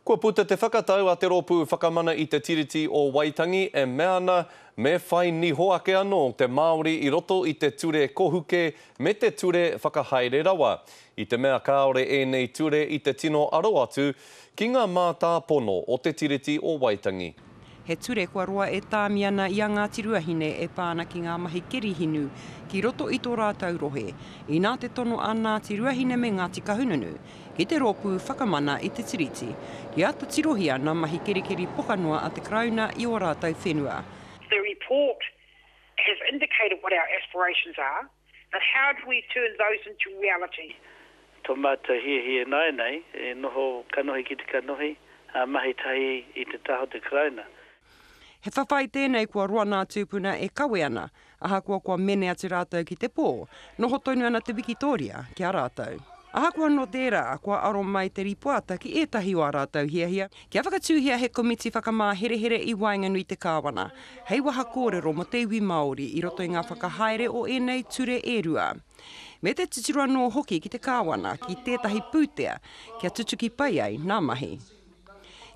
Kua puta te whakatau a te Rōpū Whakamana i Te Tiriti o Waitangi e mea ana me whai niho ake anō te Māori i roto i te ture kohuke me te ture whakahaere rawa, i te mea kāore ēnei ture i te tino aro atu ki ngā mātāpono o Te Tiriti o Waitangi. He ture kua roa e Tāmiana i a Ngāti Ruahine e pā ana ki ngā mahi keri hinu ki roto i tō rātou rohe, inā te tono a Ngāti Ruahine me Ngāti Kahungunu ki te rōpū whakamana i te Tiriti, ki āta tirohia ngā mahi kerikeri pokanoa a te Karauna i ō rātou whenua. The report has indicated what our aspirations are. But how do we turn those into reality? Tō mātou hiahia ināianei e noho kanohi ki te kanohi, ā, mahi tahi i te taha o te Karauna. He whawhai tēnei kua roa nā tūpuna e kawe ana, ahakoa kua mene atu rātou ki te pō, noho tonu ana te wikitōria ki a rātou. Ahakoa nō tērā, kua aro mai te rīpoata ki ētahi o ā rātou hiahia, Kia whakatūhia he komiti whakamāherehere i waenganui te Kāwana, hei waha kōrero mō te iwi Māori i roto i ngā whakahaere o ēnei ture e rua. Me te titiro anō hoki ki te Kāwana ki tētahi pūtea kia tutuki pai ai nā mahi.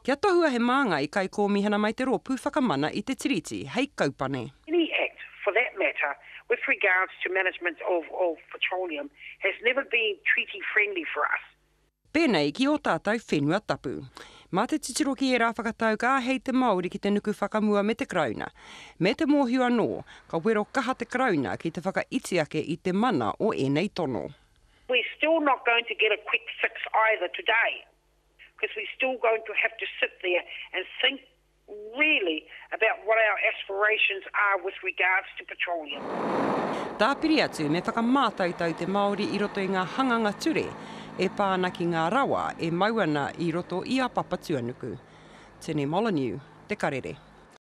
Kia tohua he māngai kaikōmihana mai te Rōpū Whakamana i te Tiriti hei kaupane. Any act, for that matter, with regards to management of of petroleum has never been treaty friendly for us. Pēnei ki ō tātou whenua tapu. Mā te titiro ki ērā whakatau ka āhei te Māori ki te nuku whakamua me te Karauna. Me te mōhio anō, ka wero kaha te Karauna ki te whakaiti ake i te mana o ēnei tono. We're still not going to get a quick fix either today, because we're still going to have to sit there and think really about what our aspirations are with regards to petroleum. Tāpiri atu, me whakamātautau te Māori i roto i ngā hanganga ture e pā ana ki ngā rawa e mau ana i roto i a Papatuanuku. Tene Molyneux, Te Karere.